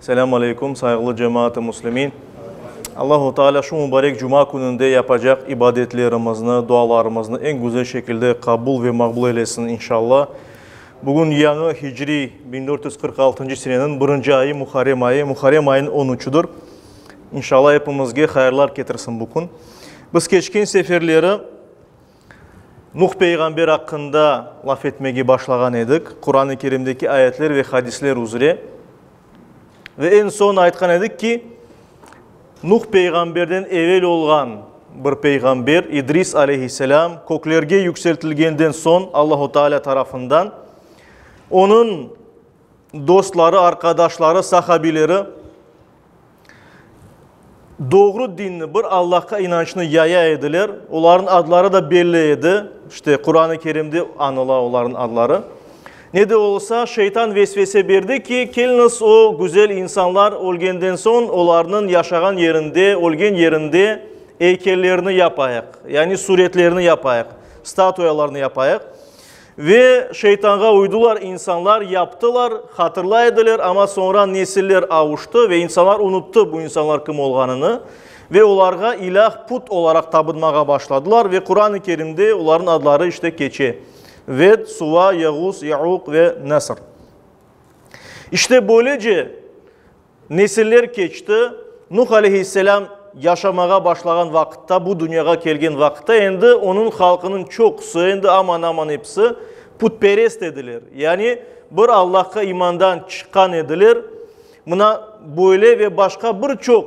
Selâm aleykum, sayğılı cemaat-ı muslimin! Allahu Teala şu mubarek cuma kününde yapacaq ibadetlerimizni, dualarımıznı eñ güzel şekilde qabul ve maqbul eylesin, inşalla. Bugün yañı hicri biñ dört yüz qırq altıncı seneniñ birinci ayı, Muharrem ayı, Muharrem ayınıñ on üçüdir. İnşalla, epimizge hayırlar ketirsin bu kün. Biz keçken seferleri, Nuh peyğamber aqqında laf etmege başlağan edik, Quran-ı Kerimdeki ayetler ve hadisler üzre. Ve eñ soñ aytqan edik ki, Nuh peyğamberden evel olğan bir peyğamber, İdris aleyhisselâm, köklerge yükseltilgenden soñ Allahu Teala tarafından onıñ, Dostları, arqadaşları, sahabileri doğru dinni, bir Allahqa inançnı yaya ediler. Olarnıñ adları da belli edi. İşte, Quran-ı Kerimde anıla olarnıñ adları. Ne de olsa, şeytan vesvese berdi ki, keliñiz, o güzel insanlar ölgenden soñ olarnıñ yaşağan yerinde, ölgen yerinde eykellerini yapayıq, yani suretlerini yapayıq, statuyalarını yapayıq. Ve şeytanğa uydular, insanlar yaptılar, hatırlay ediler, amma soñra nesiller avuştı ve insanlar unuttı bu insanlar kim olğanını ve olarğa ilâh, put, olaraq tabınmağa başladılar ve Quran-ı Kerimde olarnıñ adları işte keçe, Ved, Suva, Yeğus, Yeuq ve Nesr. İşte böylece. Nesiller keçti, Nuh aleyhisselâm yaşamağa başlağan vaqıtta, bu dünyağa kelgen vaqıtta endi onıñ halqınıñ çoqusı, endi aman-aman episi putperest ediler, yani bir Allahqa imandan çıqqan ediler. Mına böyle ve başqa bir çoq.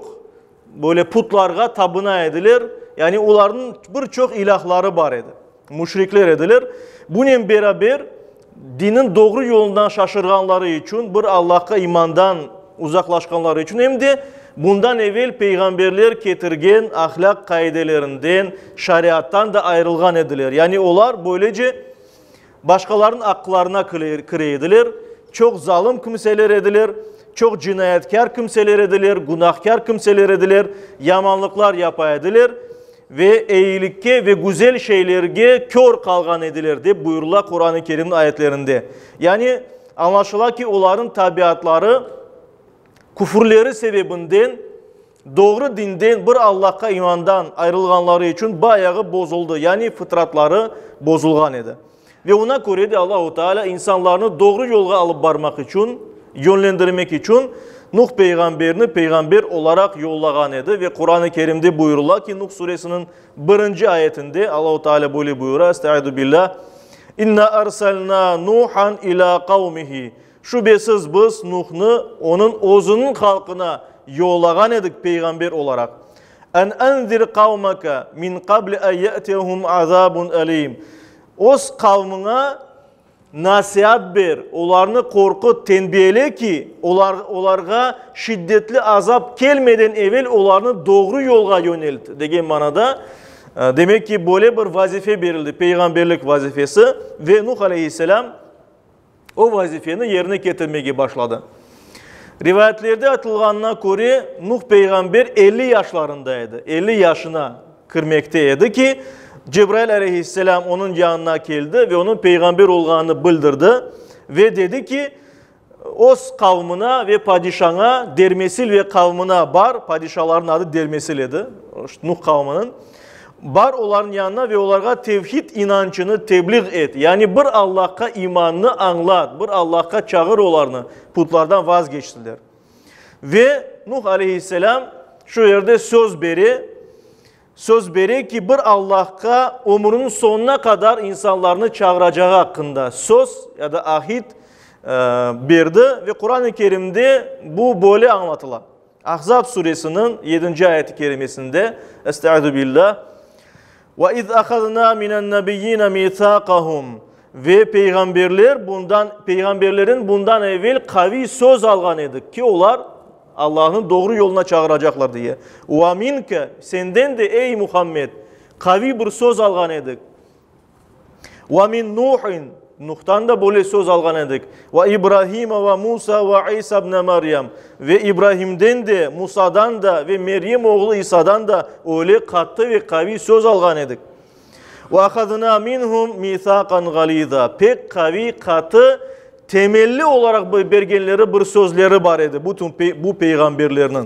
Böyle putlarğa tabına ediler, yani olarnıñ bir çoq ilâhları bar edi. Müşrikler ediler. Bunen beraber, dinin doğru yolundan şaşırğanları içün, bir Allahqa imandan uzaqlaşqanları içün, em de bundan evel peyğamberler ketirgen ahlâq qaidelerinden, şariattan da ayırılğan ediler. Yani olar böylece Başqalarnıñ aqlarına kire ediler, çoq zalım kimseler ediler, çoq cinayatkâr kimseler ediler, günahkâr kimseler ediler, yamanlıqlar yapa ediler ve eyilikke ve güzel şeylerge kör qalğan ediler, dep buyurıla Quran-ı Kerimniñ ayetlerinde. Yani, añlaşıla ki, olarnıñ tabiatları küfürleri sebebinden, Doğru dinden, bir Allahqa imandan ayrılğanları içün bu ayağı bozuldı, yani fıtratları bozulğan edi. Ve oña köre de Allahu Teala insanlarnı doğru yolğa alıp barmaq içün, yönlendirmek içün Nuh peyğamberni peyğamber olaraq yollağan edi. Ve Quran-ı Kerimde buyurula ki, Nuh suresiniñ birinci ayetinde Allahu Teala böyle buyura, Estaidu billah, İnna arsalna Nuhan ila qavmihi. Şübesiz, biz Nuhnı onıñ özüniñ halqına yollağan edik peyğamber olaraq. Ân enzir qavmeke min qabli ân yâtiyehum azâbun elîm. Öz qavmıña nasiat ber, olarnı qorqut, tenbiyele ki, olar, olarğa şiddetli azap kelmeden evel olarnı doğru yolğa yönelt, degen manada, demek ki, böyle bir vazife berildi, peyğamberlik vazifesi, ve Nuh aleyhisselâm, O vazifeni yerine ketirmege başladı. Rivayetlerde aytılğanına köre, Nuh peyğamber elli yaşlarında edi, elli yaşına kirmekte edi ki, Cebrail aleyhisselâm onıñ yanına keldi ve onıñ peyğamber olğanını bildirdi ve dedi ki, Öz qavmına ve padişaña, Dermesil ve qavmına bar, padişalarnıñ adı Dermesil edi, Nuh qavmınıñ, Bar olarnıñ yanına ve olarğa tevhid inançını tebliğ et, yani bir Allahqa imannı añlat, bir Allahqa çağır olarnı, putlardan vazgeçsinler. Ve Nuh aleyhisselâm şu yerde söz bere, söz bere ki, bir Allahqa ömrüniñ soñuna qadar insanlarnı çağıracağı aqqında söz ya da ahit berdi ve Quran-ı Kerimde bu böyle añlatıla. Ahzab suresiniñ yedinci ayet-i kerimesinde, Estaizu billah, Ve iz ahazna minennebiyine mitsaqahum Ve peyğamberler bundan, peyğamberlerin bundan evel qaviy söz alğan edik ki, olar Allahnıñ doğru yoluna çağıracaqlar diye. Ve minke, senden de, ey Muhammed, qaviy bir söz alğan edik. Ve min Nuhin, Nuhtan da böyle söz alğan edik. Ve İbrahime ve Musa ve İsa ibne Meryem, ve İbrahimden de, Musadan da ve Meryem oğlu İsadan da öyle qattı ve qaviy söz alğan edik. Ve ahazna minhum mithaqan ğaliza, pek qaviy, qatı, temelli olaraq bergenleri bir sözleri bar edi bütün bu peyğamberlerniñ.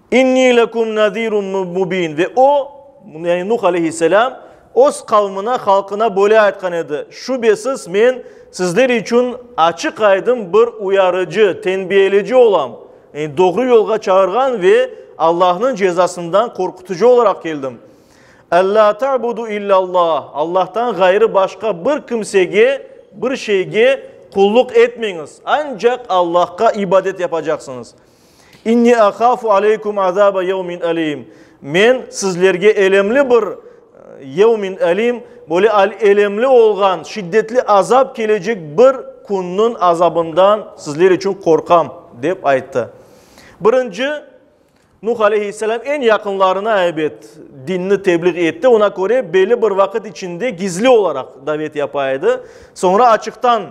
İnni lekum nazirun mubin ve o, yani Nuh aleyhisselâm, öz qavmına, halqına böyle aytqan edi, Şübesiz, men sizler içün açıq-aydın bir uyarıcı, tenbiyeleci olam, yani doğru yolğa çağırğan ve Allahnıñ cezasından qorqutucı olaraq keldim. Ellâ ta'budu illâllah, Allahtan ğayrı başqa bir kimsege, bir şeyge qulluq etmeñiz, ancaq Allahqa ibadet yapacaqsıñız. İnni ahafu aleykum azaba yevmin alim, Men sizlerge elemli bir, yevmin alim, böyle elemli olğan, şiddetli azap kelecek bir künniñ azabından sizler içün qorqam, dep ayttı. Birinci, Nuh aleyhisselam eñ yaqınlarına, ebet, dinni tebliğ etti, oña köre belli bir vaqıt içinde gizli olaraq davet yapa edi, soñra açıqtan,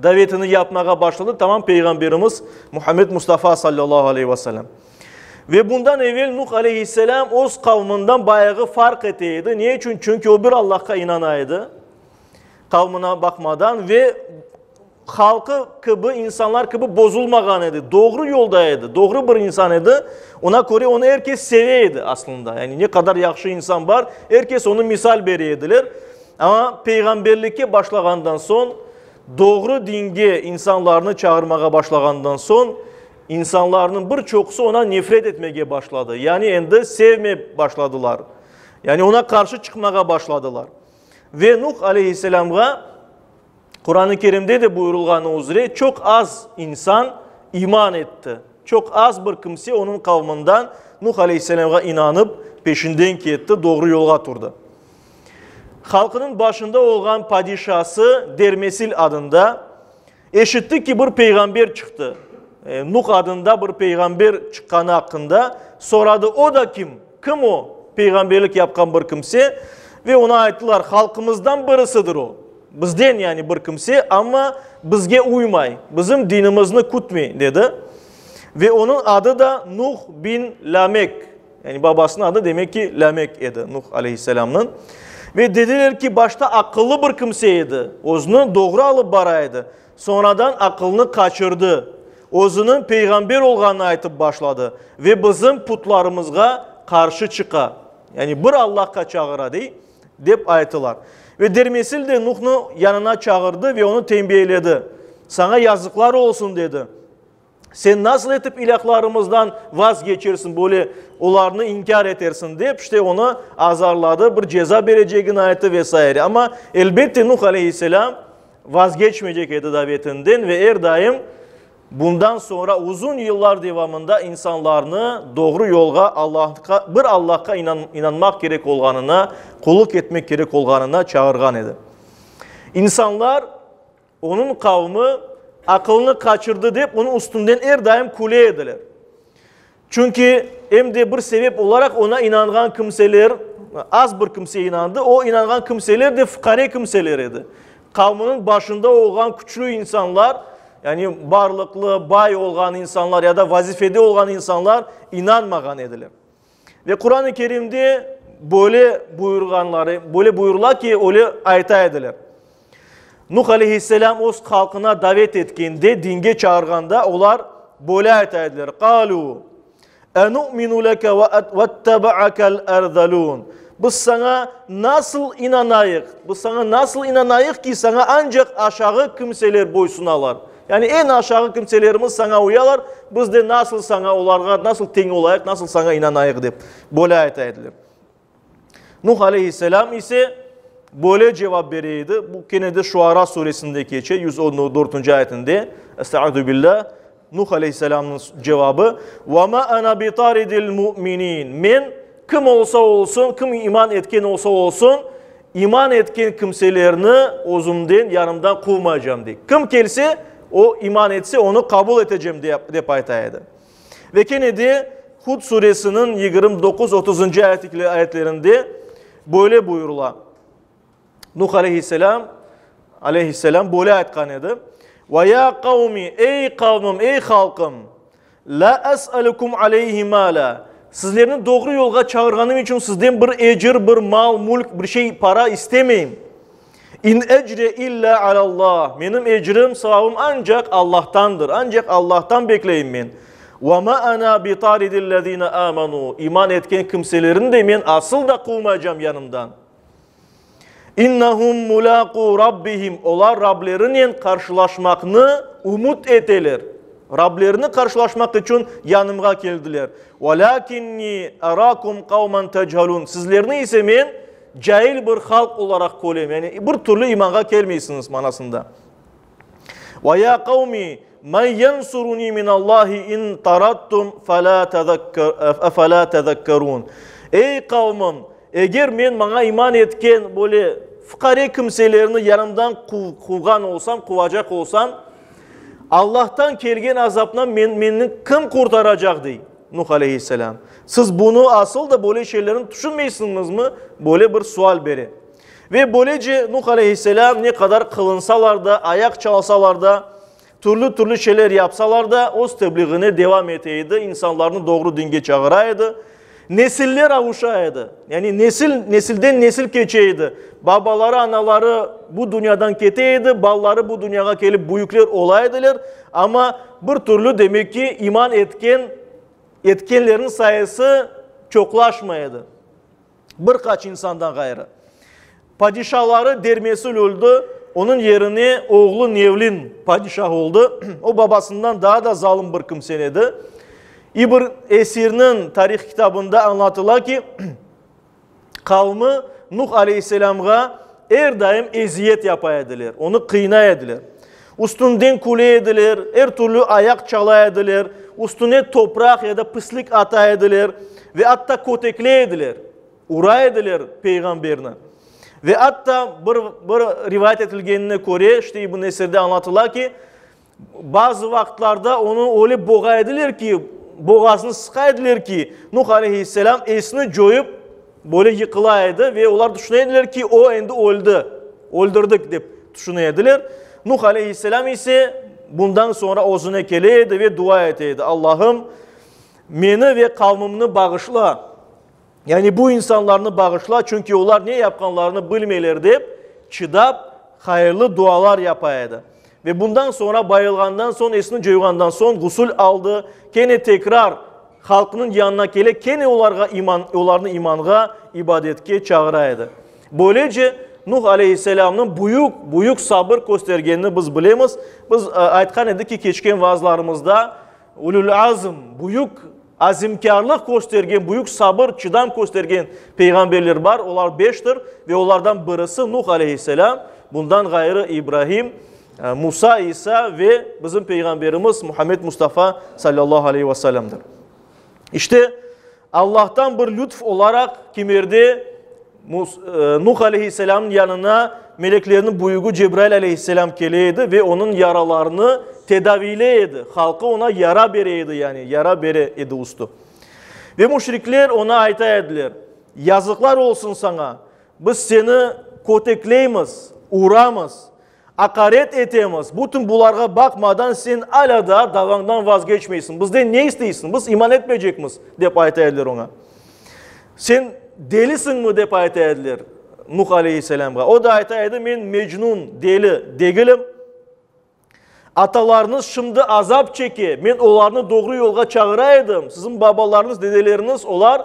davetini yapmağa başladı, tamam Peyğamberimiz Muhammed Mustafa sallallahu aleyh ve sellem. Ve bundan evel Nuh aleyhisselam öz qavmından bayağı farq ete edi. Ne için? Çünkü o bir Allahqa inana edi. Qavmına bakmadan ve halkı kibi, insanlar kibi bozulmağan edi. Doğru yolda edi. Doğru bir insan edi. Ona göre onu herkes seveydi aslında. Yani ne kadar yaxşı insan var, herkes onu misal bereydiler. Amma peyğamberlikke başlağandan soñ, doğru dinge insanlarnı çağırmağa başlağandan soñ, insanlarnıñ bir çoqusı ona nefret etmege başladı, yani endi sevmey başladılar. Yani ona qarşı çıqmağa başladılar. Ve Nuh aleyhisselamğa Quran-ı Kerimde de buyurılğanı üzre çoq az insan iman etti. Çoq az bir kimse onıñ qavmından Nuh aleyhisselamğa inanıp, peşinden ketti, doğru yolğa turdı. Halqınıñ başında olğan padişası Dermesil adında, eşitti ki, bir peyğamber çıqtı. Nuh adında bir peyğamber çıqqanı aqqında soradı, o da kim? Kim o? Peyğamberlik yapqan bir kimse. Ve oña ayttılar, halqımızdan birisidir o. Bizden, yani bir kimse, amma bizge uymay, bizim dinimizni kütmey, dedi. Ve onıñ adı da Nuh bin Lamek. Yani babasınıñ adı demek ki, Lamek edi, Nuh aleyhisselamnıñ. Ve dediler ki, başta aqıllı bir kimse edi, özüni doğru alıp bara edi, soñradan aqılını qaçırdı, özüniñ peyğamber olğanını aytıp başladı ve bizim putlarımızğa qarşı çıqa, yani bir Allahqa çağıra, dey, dep ayttılar. Ve dermesil de Nuhnı yanına çağırdı ve onı tenbiheledi, Saña yazıqlar olsun, dedi. Sen nasıl etip ilâhlarımızdan vaz keçirsiñ, böyle olarnı inkâr etersiñ? dep, işte, onı azarladı, bir ceza berecegini ayttı ve sair. Amma, elbette, Nuh aleyhisselâm vaz keçmeycek edi davetinden ve er daim bundan soñra uzun yıllar devamında insanlarnı doğru yolğa, Allahqa, bir Allahqa inan, inanmaq kerek olğanına, qullıq etmek kerek olğanına çağırğan edi. İnsanlar. Onıñ qavmi aqılını qaçırdı dep onıñ üstünden er daim küle ediler. Çünki, em de bir sebep olaraq oña inanğan kimseler, az bir kimse inandı, o inanğan kimseler de fuqare kimseler edi. Qavminiñ başında olğan küçlü insanlar, yani barlıqlı, bay olğan insanlar ya da vazifede olğan insanlar inanmağan ediler. Ve Quran-ı Kerimde böyle buyurğanları, böyle buyurıla ki, öyle ayta ediler. Nuh aleyhisselam öz halkına davet etkende, dinge çağırğanda olar böyle ayta ediler. Qalu enu'minu leke ve ettebe'akel erzalun. Biz sana nasıl inanayıq? Biz sana nasıl inanayıq ki, sana ancak aşağı kimseler boysunalar? Yani eñ aşağı kimselerimiz saña uyalar, biz de nasıl saña olarğa nasıl teñ olayıq, nasıl saña inanayıq dep böyle ayta ediler. Nuh aleyhisselam ise böyle cevap bere edi, bu kene de Şuara suresinde keçe, yüz on dörtünci ayetinde, Estaizu billah, Nuh aleyhisselamnıñ cevabı, Ve ma ana bitaridil mu'minin, men kim olsa olsun, kim iman etken olsa olsun, İman etken kimselerni özümden, yanımdan quvmaycam, dey. Kim kelse, o, iman etse, onı qabul etecem, dep ayta edi. Ve kene de Hud suresiniñ yigirmi doquz, otuzıncı ayetlerinde böyle buyurula, Nuh aleyhisselâm, aleyhisselâm böyle aytqan edi, Ve ya qavmi, ey qavmım, ey halqım, La es'elukum aleyhi mâla, Sizlerni doğru yolğa çağırğanım içün sizden bir ecir, bir mal, mülk, bir şey, para istemeyim. İn ecriye illâ alâllah, Menim ecrim, savabım ancaq Allahtandır, ancaq Allahtan bekleyim men. Ve ma ana bi taridil lezine âmenû, İman etken kimselerni de men asıl da quvmaycam yanımdan. İnnehum mulâqû Rabbihim, olar Rablerinen qarşılaşmaqnı ümüt eteler. Rablerini qarşılaşmaq içün yanımğa keldiler. Velâkinni erâkum kavmen techelûn, sizlerni ise men cail bir halq olaraq körem, yani bir türlü imanğa kelmeysiñiz manasında. Ve ya qavmi, men yensuruni min Allahi in tarattum efela tezekkerun. Ey qavmım, eger men maña iman etken böyle fuqare kimselerni yanımdan quvğan olsam, quvacaq olsam, Allahtan kelgen azaptan meni kim qurtaracaq? dey Nuh aleyhisselâm. Siz bunı asıl da böyle şeylerni tüşünmeysiñizmi? Böyle bir sual bere. Ve böylece Nuh aleyhisselâm ne qadar qılınsalar da, ayaq çalsalar da, türlü-türlü şeyler yapsalar da, öz tebliğine devam ete edi, insanlarnı doğru dinge çağıra edi. Nesiller avuşa edi. Yani nesil, nesilden nesil keçe edi. Babaları, anaları bu dünyadan kete edi, balaları bu dünyağa kelip büyükler ola ediler. Amma bir türlü demek ki iman etken, etkenlerniñ sayısı çoqlaşmay edi. Bir qaç insandan ğayrı. Padişaları Dermesil öldi, onıñ yerine oğlu Nevlin padişah oldı. O babasından daa da zalım bir kimse edi. İbn Esirniñ tarih kitabında añlatıla ki, qavmi Nuh aleyhisselamğa er daim eziyet yapa ediler, onı qıynay ediler. Üstünden küle ediler, er türlü ayaq çala ediler, üstüne topraq ya da pislik ata ediler ve atta kötekle ediler, ura ediler peyğamberni. Ve atta bir bir rivayet etilgenine köre, işte İbn Esirde añlatıla ki, bazı vaqıtlarda onı öyle boğa ediler ki, boğazını sıqa ediler ki, Nuh aleyhisselam esini coyıp, Böyle yıqıla edi ve olar tüşüne ediler ki, o, endi öldi, öldürdik, dep tüşüne ediler. Nuh aleyhisselâm ise bundan soñra özüne kele edi ve dua ete edi, Allahım, meni ve qavmımnı bağışla, yani bu insanlarnı bağışla, çünki olar ne yapqanlarını bilmeyler, dep çıdap, hayırlı dualar yapa edi. Ve bundan soñra, bayılğandan soñ, esini coyğandan soñ, ğusül aldı, kene tekrar halqnıñ yanına kele, kene olarğa iman, olarnı imanğa, ibadetke çağıra edi. Böylece, Nuh aleyhisselamnıñ büyük, büyük sabır köstergenini biz bilemiz. Biz aytqan edik ki, keçken vaazlarımızda, Ulul azm, büyük azimkârlıq köstergen, büyük sabır, çıdam köstergen peyğamberler bar, olar beştir ve olardan birisi Nuh aleyhisselâm, bundan ğayrı İbrahim, Musa, İsa ve bizim Peyğamberimiz Muhammed Mustafa sallallahu aleyhi ve sellemdir. İşte, Allahtan bir lütf olaraq kimerde Nuh aleyhisselamnıñ yanına meleklerniñ büyügi Cebrail aleyhisselam kele edi ve onıñ yaralarını tedaviyley edi, halqı oña yara bere edi, yani yara bere edi ustü. Ve müşrikler oña ayta ediler, Yazıqlar olsun saña, biz seni kötekleymiz, uramız. Aqaret etemiz. Bütün bularğa baqmadan sen alâ daa davañdan vazgeçmeysiñ. Bizden ne isteysiñ? Biz iman etmeycekmiz, dep ayta ediler oña. Sen delisiñmi? dep ayta ediler Nuh aleyhisselâmğa. O da ayta edi, Men mecnun, deli, degilim. Atalarıñız şimdi azap çeke. Men olarnı doğru yolğa çağıra edim. Siziñ babalarıñız, dedeleriñiz olar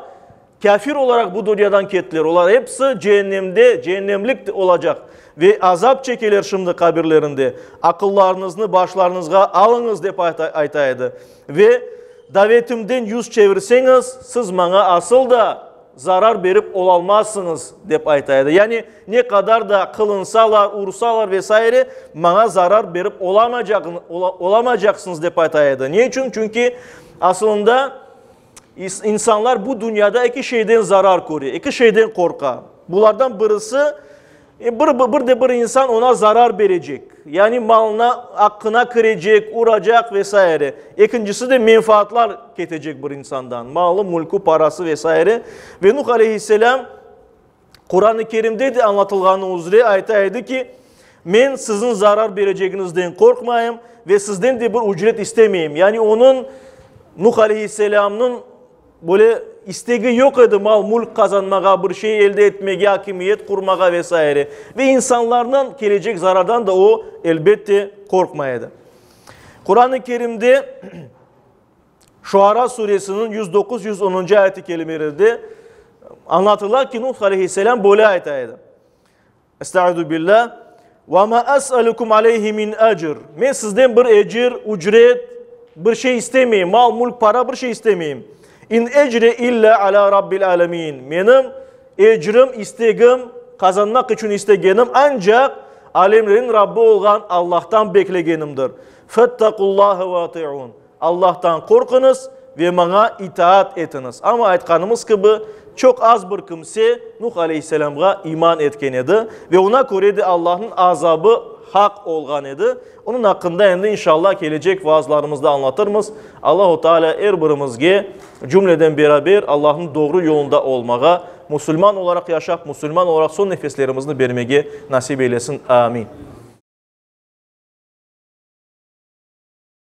Kâfir olaraq bu dünyadan kettiler. Olar episi cehennemde, cehennemlik olacaq ve azap çekeler şimdi qabirlerinde. Aqıllarıñıznı başlarıñızğa alıñız, dep ayta edi. Ve davetimden yüz çevirseñiz, siz maña asıl da zarar berip olalmazsıñız, dep ayta edi. Yani ne qadar da qılınsalar, ursalar ve saire, maña zarar berip olamaycaqsıñız, dep ayta edi. Ne içün? Çünki asılında, İnsanlar bu dünyada eki şeyden zarar köre, eki şeyden qorqa. Bulardan birisi, bir de bir insan oña zarar berecek, yani malına, aqqına kirecek, uracaq ve saire. Ekincisi de menfaatlar ketecek bir insandan, malı, mülkü, parası ve saire. Ve Nuh aleyhisselâm. Quran-ı Kerimde de añlatılğanı üzre ayta edi ki, Men siziñ zarar berecegiñizden qorqmayım ve sizden de bir ücret istemeyim. Yani onıñ, Nuh aleyhisselamnıñ, böyle istegi yoq edi mal-mülk qazanmağa, bir şey elde etmege, akimiyet qurmağa ve saire. Ve insanlardan kelecek zarardan da o, elbette, qorqmay edi. Quran-ı Kerimde Şuara Suresiniñ yüz doquz, yüz onuncı ayet-i kerimelerde añlatıla ki, Nuh aleyhisselâm böyle ayta edi, Estaizu billâh, Ve ma es'elukum aleyhi min ecr. Men sizden bir ecir, ücret, bir şey istemeyim, mal, mülk, para, bir şey istemeyim. İn ecri illa ala Rabbil alemin. Menim ecrim, istegim, qazanmaq içün istegenim ancaq alemlerin Rabbi olğan Allah'tan beklegenimdir. Fettaqullâhe ve ati'un. Allahtan qorquñız ve maña itaat etiñiz. Amma aytqanımız kibi, çoq az bir kimse Nuh aleyhisselamğa iman etken edi ve oña köre de Allahnıñ azabı haq olğan edi. Onıñ aqqında endi, inşallah, kelecek vaazlarımızda añlatırmız. Allahu Teala er birimizge cümleden beraber Allahnıñ doğru yolunda olmağa, musulman olaraq yaşap, musulman olaraq soñ nefeslerimizni bermege nasip eylesin. Amin.